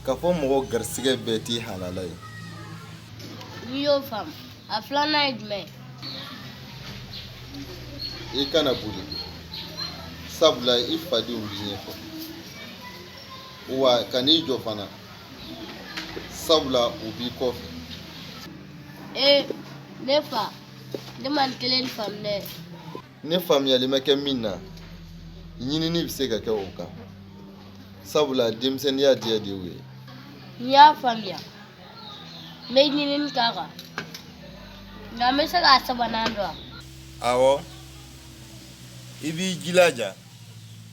k'a fɔ mɔgɔ garisɛgɛ bɛɛ t'i halala ye n'i y'o faamu a filanan ye jumɛn ye i kana boli sabula i fadenw b'i ɲɛfɛ wa kan'i jɔ fana sabula u b'i kɔfɛ ee ne fa ne ma nin kelen faamu dɛ ne faamuyali ma kɛ min na ɲinini bɛ se ka kɛ o kan sabula denmisɛnninya diya de y'o ye n y'a faamuya n bɛ ɲinini k'a kan nka n bɛ se k'a sabanan dɔn awɔ i b'i jilaja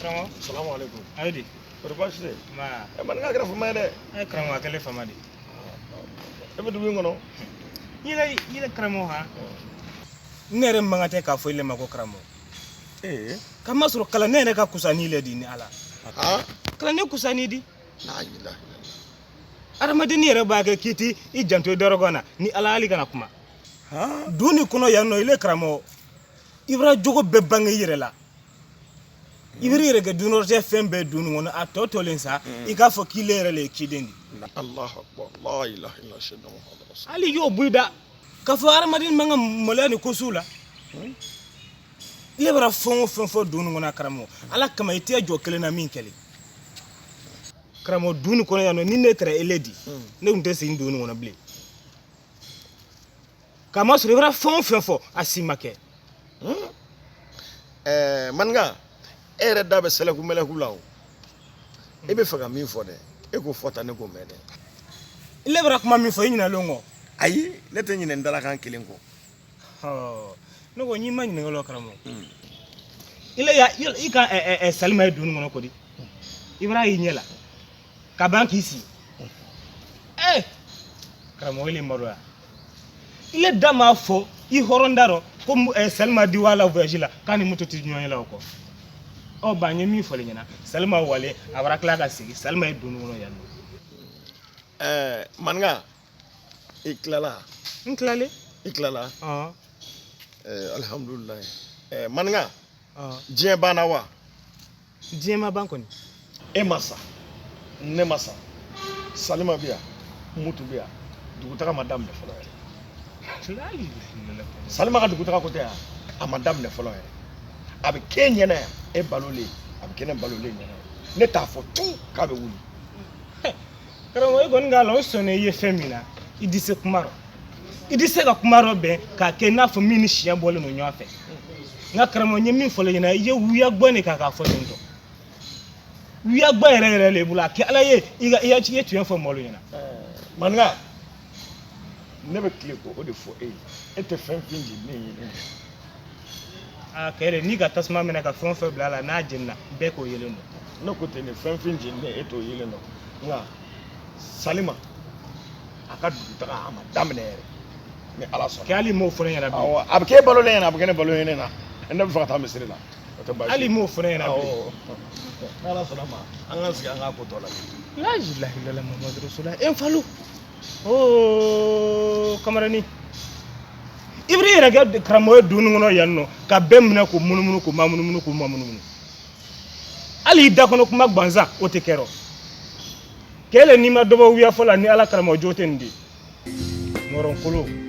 karamɔgɔ salamu aleykum ayi di kɔri baasi tɛ ma ɛ maninka kɛra fama ye dɛ a ye karamɔgɔ kɛlen fama di e bɛ dugu in kɔnɔ yɛlɛ yɛlɛ karamɔgɔ ha ne yɛrɛ man kan tɛ k'a fɔ ile ma ko karamɔgɔ ee k'a masɔrɔ kalan ne yɛrɛ ka kusa ni ile di ni ala aa kalan ne kusa n'i di la ilaha adamadenni yɛrɛ b'a kɛ k'i t'i janto i dɔrɔgɔn na ni ala hali kana kuma aa dugu nin kɔnɔ yan nɔ ile karamɔgɔ i b'a jogo bɛɛ bange i yɛrɛ la i b'i yɛrɛ kɛ dunnɔrɔtɛ fɛn bɛɛ dugu nin kɔnɔ a tɔ tɔlen sa i k'a fɔ k'i yɛrɛ de ye ciden di hali y'o b'i da k'a fɔ hadamaden man kan ka maloya nin ko sugu la ile bara fɛn o fɛn fɔ dugu nin kɔnɔ a karamɔgɔ ala kama i tɛ jɔ kelen na min kɛli karamɔgɔ dugu nin kɔnɔ yan nɔ ni ne tɛra ile di ne tun tɛ segin dugu nin kɔnɔ bilen k'a masɔrɔ i bara fɛn o fɛn fɔ a si ma kɛ ɛɛ maninka e yɛrɛ da bɛ sɛlɛku mɛlɛku la o e b'a fɛ ka min fɔ dɛ e k'o fɔ tan ne k'o mɛn dɛ ile bara kuma min fɔ i ɲinalen kɔ ayi ne tɛ ɲinɛ n dalakan kelen kɔ Ɔ, ne ko n'i ma ɲininkali la karamɔgɔ ile ya i- i ka ɛ, ɛ, ɛ, salima ye dugu nin kɔnɔ kɔni i bar'a y'i ɲɛ la ka ban k'i sigi ee karamɔgɔ ni maloya ile da m'a fɔ i hɔrɔn da rɔ ko eh, salima di wa la voyage la k'a ni mutu tɛ ɲɔgɔn ye la o kɔ ɔ ba n ye min fɔli ɲɛna salima walen a bara tila ka sigi salima ye dugu nin kɔnɔ yan ɛɛ maninka i tilala n tilalen i tilala ɔn ɛɛ alihamudulilayi ɛɛ maninka ɔn diɲɛ banna wa diɲɛ ma ban kɔni e ma sa ne ma sa salima bɛ yan mutu bɛ yan dugutaga ma daminɛ fɔlɔ yɛrɛ salima ka dugutaga ko tɛ yan a ma daminɛ fɔlɔ yɛrɛ a bɛ k'e ɲɛna yan e balolen a bɛ kɛ ne balolen ɲɛna ne t'a fɔ tugun k'a bɛ wuli karamɔgɔ e kɔni k'a la o sɔnna i ye fɛn min na i di se kuma rɔ i di se ka kuma rɔ bɛn k'a kɛ i n'a fɔ min ni tiɲɛ bɔlen don ɲɔgɔn fɛ nka karamɔgɔ n ye min fɔ l'e ɲɛna i ye wuya gbɔn de k'a k'a fɔ ten tɔ wuya gbɔn yɛrɛ yɛrɛ de bolo a kɛ ala ye i ka i ya- i ye tiɲɛ fɔ mɔgɔlu ɲɛna maninka ne bɛ tile k'o de fɔ e ye e tɛ fɛn fin di ne ye ne ye a kɛlen n'i ka tasuma mɛnɛ ka fɛn o fɛn bila a la n'a jenina bɛɛ k'o yelen dɔn ne ko ten de fɛn fɛn jeninen e t'o yelen dɔn nka salima a ka dugutaga a ma daminɛ yɛrɛ ni ala sɔnna kɛ hali m'o fɔ ne ɲɛna bi awɔ a bɛ k'e balolen ɲɛna a bɛ kɛ ne balolen ɲɛna ne bɛ fɛ ka taa misiri la o tɛ baasi ye. hali m'o fɔ ne ɲɛna bi awɔ n'ala sɔnna ma an k'an sigi an k'a ko tɔ la la ilaha illallah muhammadu rasulullah e n falo o oh, kamarani i bar'i yɛrɛ kɛ karamɔgɔ ye dugu nin kɔnɔ yan nɔ ka bɛɛ minɛ k'u munumunu k'u mamunumunu k'u mamunumunu hali i da kɔnɔ kuma gbansan o tɛ kɛrɔ kɛ ile n'i ma dɔ bɔ wuya fɔ la ni ala karamɔgɔ jogo tɛ nin di mɔrɔnkolo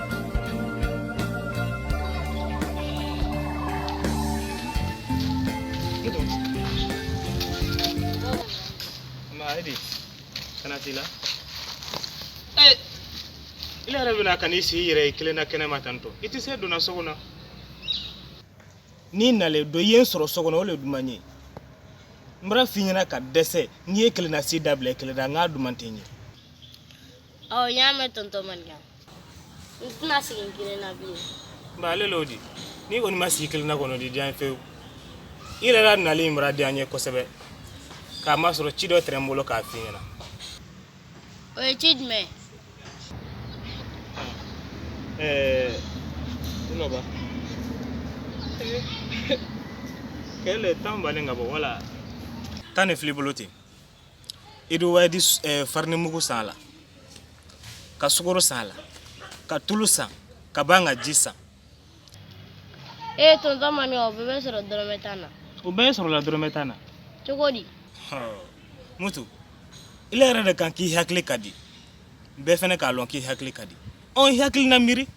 i yɛrɛ bɛna ka n'i sigi i yɛrɛ kelen na kɛnɛ ma tan tɔ i tɛ se don na so kɔnɔ n'i nalen don i ye n sɔrɔ so kɔnɔ o de duman n ye n bar'a f'i ɲɛna ka dɛsɛ n'i ye kelen na sigi dabila i kelen na n k'a duman tɛ n ɲɛ ɔ n y'a mɛn tɔntɔn maninka n tɛna sigi kelen na bilen nka ale l'o di n'i kɔni ma sigi kelen na kɔnɔ o di diya n ye fewu i yɛrɛ la nali in bara diya n ye kosɛbɛ k'a masɔrɔ ci dɔ tɛrɛ n bolo k'a f'i ɲɛna o ye ci jumɛn ye Eh, uno va. Kɛlɛ tan balen ka bɔ wala tan de fili bolo ten i di wa i di s- eh, farinimugu san a la ka sukoro san a la ka tulu san ka ban ka ji san ee tonton mami o bɛɛ bɛ sɔrɔ dɔrɔmɛ tan na o bɛɛ sɔrɔla dɔrɔmɛ tan na cogo di mutu ile yɛrɛ de kan k'i hakili ka di bɛɛ fɛnɛ k'a lɔn k'i hakili ka di ɔn i hakili na miiri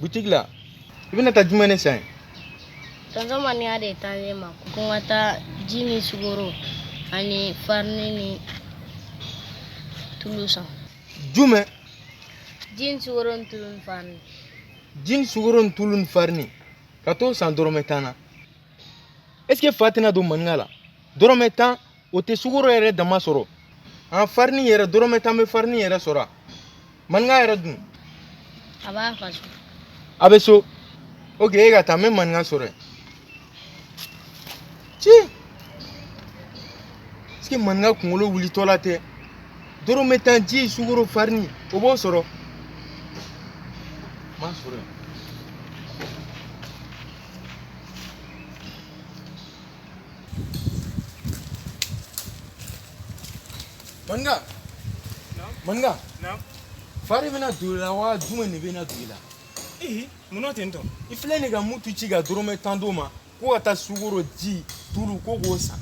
butigi la i bɛna taa jumɛn ne san ye tɔntɔn maninka de taalen ma ko n ka taa ji ni sukoro ani farini ni tulu san jumɛn ji ni sukoro ni tulu ni farini ji ni sukoro ni tulu ni farini ka t'o san dɔrɔmɛ tan na est ce que fa tɛna don maninka la dɔrɔmɛ tan o tɛ sukoro yɛrɛ dama sɔrɔ ani farini yɛrɛ dɔrɔmɛ tan bɛ farini yɛrɛ sɔrɔ a maninka yɛrɛ dun a b'a fa so a bɛ so ok e ka taa n bɛ maninka sɔrɔ yen puisque maninka kunkolo wulitɔla tɛ dɔrɔmɛ tan ji sukoro farini o b'o sɔrɔ m'a sɔrɔ yen Maninka maninka fa de bɛna don i la wa jumɛn de bɛna don i la ee munna ten tɔ i filɛ nin ka mutu ci ka dɔrɔmɛ tan d'o ma ko ka taa sukoro ji tulu ko k'o san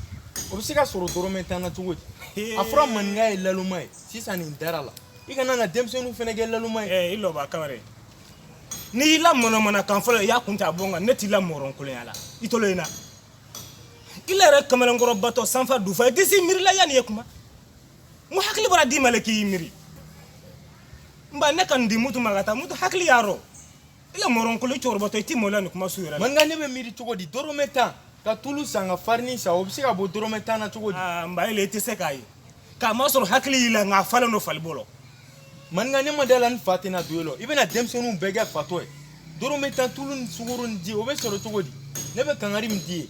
o bɛ se ka sɔrɔ dɔrɔmɛ tan na cogo di a fɔra maninka ye laloma ye sisan ne dar'a la i kana na denmisɛnninw fɛnɛ kɛ laloma ye i lɔba kamara n'i y'i la mɔnɔmɔnɔ kan fɔlɔ i y'a kun ta bɔ kan ne t'i la mɔrɔn kolonya la i tolo in na i la yɛrɛ kamalenkɔrɔ batɔ sanfa dufa i tɛ se miiri la yanni i ye kuma n ko hakili bara d'i ma le k'i miiri n ba ne ka n di mutu ma ka taa mutu hakili y'a rɔ i la mɔrɔn kolo cɛkɔrɔbatɔ i t'i malo nin kuma su yɛrɛ la maninka ne bɛ miiri cogo di dɔrɔmɛ tan ka tulu san ka farini san o bɛ se ka bɔ dɔrɔmɛ tan na cogo di n ba e le i tɛ se k'a ye k'a masɔrɔ hakili y'i la nka a falen don fali bo la maninka ne ma d'a la ni fa tɛna don e la i bɛna denmisɛnninw bɛɛ kɛ fatɔ ye dɔrɔmɛ tan tulu ni sukoro ni ji o bɛ sɔrɔ cogo di ne bɛ kangari min di ye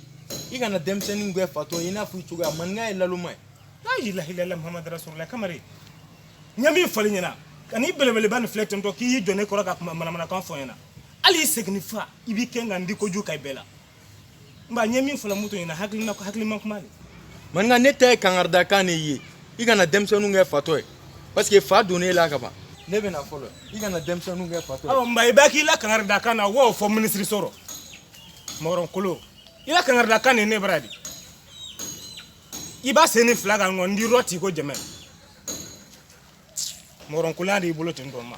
i kana denmisɛnninw kɛ fatɔ ye i n'a fɔ i cogoya maninka ye laloma ye layilahilala mahamadu rasulula kamari n ye min fɔl'i ɲɛna an'i belebeleba nin filɛ tentɔ k'i y'i jɔ ne kɔrɔ ka kuma manamanakan fɔ n ɲɛna hali i seginni fa i b'i kɛ ka n di koju ka i bɛɛ la Mba n ye min fɔla mutu ɲɛna hakilina hakilima kuma de maninka ne ta ye kangaridakan de ye i kana denmisɛnninw kɛ fatɔ ye parce que fa donn'e la ka ban ne bɛna fɔlɔ i kana denmisɛnninw kɛ fatɔ ye awɔ mba i b'a k'i la kangaridakan na w'o fɔ minisiri so rɔ mɔgɔrɔn kolo i la kangaridakan de ne bara de i ba sennin fila kan ŋɔ n dirɔ t'i ko jɛmɛ mɔgɔrɔn koloya de y'i bolo ten tɔ ma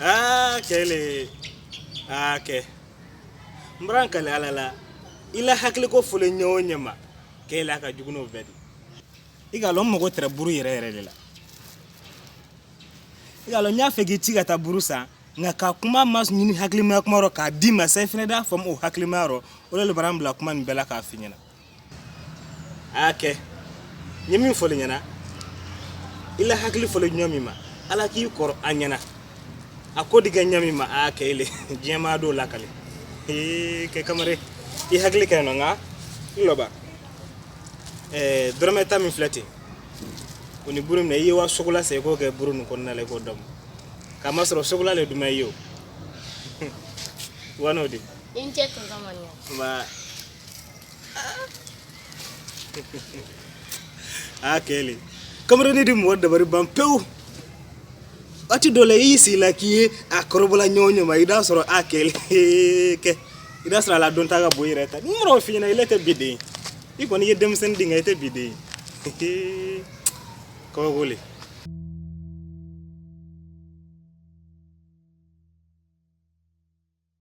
aa kɛle aa kɛ n bara n kali ala la i la hakiliko fɔli ɲɛ o ɲɛ ma k'e la ka jugu n'o bɛɛ di i k'a lɔn n mago tɛrɛ buru yɛrɛ yɛrɛ le la i k'a lɔn n y'a fɛ k'i ci ka taa buru san nka ka kuma maɲini hakilimaya kuma rɔ k'a d'i ma sa i fɛnɛ d'a faamu o hakilimaya rɔ o le le bara n bila kuma nin bɛɛ la k'a f'i ɲɛna a y'a kɛ n ye min fɔl'i ɲɛna i la hakili fɔli ɲa min ma ala k'i kɔrɔ a ɲɛna a ko di kɛ ɲa min ma a y'a kɛ ile diɲɛ maa dɔw lakale ee kɛ kamare i hakili kɛ nɔ nka n lɔba ɛɛ dɔrɔmɛ tan min filɛ ten o ni buru minɛ i ye wa sokola san i k'o kɛ buru nin kɔnɔna la i k'o damu k'a masɔrɔ sokola le duman i ye o wa n'o de i ni ce tonton mɔniyɛ nba a kɛlen kamarani di mɔgɔ dabari ban pewu waati dɔ la i y'i sigi la k'i ye a kɔrɔbɔla ɲɔgɔn ɲɛ ma i d'a sɔrɔ a kɛlen kɛ i d'a sɔrɔ a la dɔn ta ka bɔ i yɛrɛ ta ni mɔgɔ f'i ɲɛna ile tɛ bi den i kɔni i ye denmisɛnnin di nka i tɛ bi den kabako le